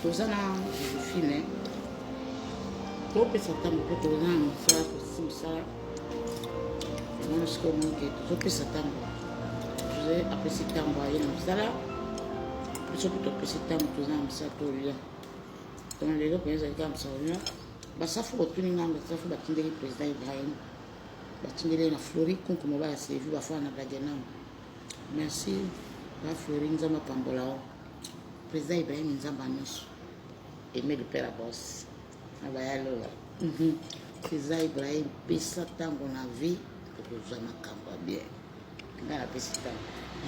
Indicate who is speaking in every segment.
Speaker 1: toza na fine topesa ntango mpe toza na mosala tosi mosala wana sikoyo moke tozopesa ntango toze apesi ntango aye na mosala biso mpe topesi ntango toza na mosala tolia donc lelo mpenza ezali kaka mosala olia basafu botuni ngai basafu batindeli président ibrahim batindeli na flori kunku mobala sevi bafana na bagenama Merci ba Fleury Nzambe apambola yo. Président Ibrahim Nzambe nyonso. Aimé le père boss. Na baya lola. Mhm. Président Ibrahim pesa tango na vie okozwa makambo ya bien. Ngai napesi tango.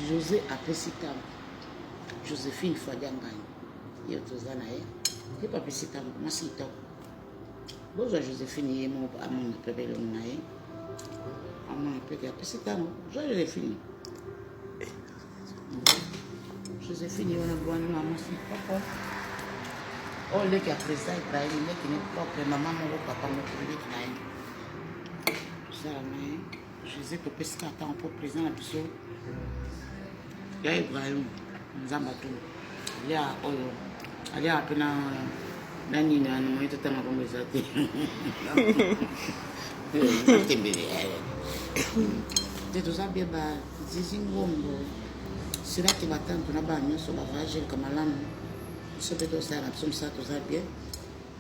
Speaker 1: José apesi tango. Josephine Fadia Nganyi. Yo toza na ye. Ye papesi tango. Mwasi kitoko. bozwa josephine ye moko amona mpe belongi na ye amona mpe apesi ntango zwa josephine josephine ye wana bwani na mwasi moko oyo oh, leki ya président ibrahim leki ne propre mama moko papa moko leki na ye osala na ye José topesi ka ntango mpo président na biso ya ibrahim nzambe atuna alia oyo aliaka mpe na na nini wana moye totanga kombo eza te tembele te toza bie ba zizi ngombo silaki batantu na bana nyonso bavaya jelka malamu biso mpe tosala na biso mosala toza bien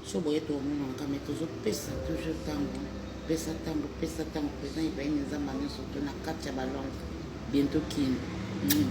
Speaker 1: so boye tomonaka me tozopesa toujours ntango pesa ntango pesa ntango président ibrahime nzambe nyonso to na kati ya balonge bientôt kini mm.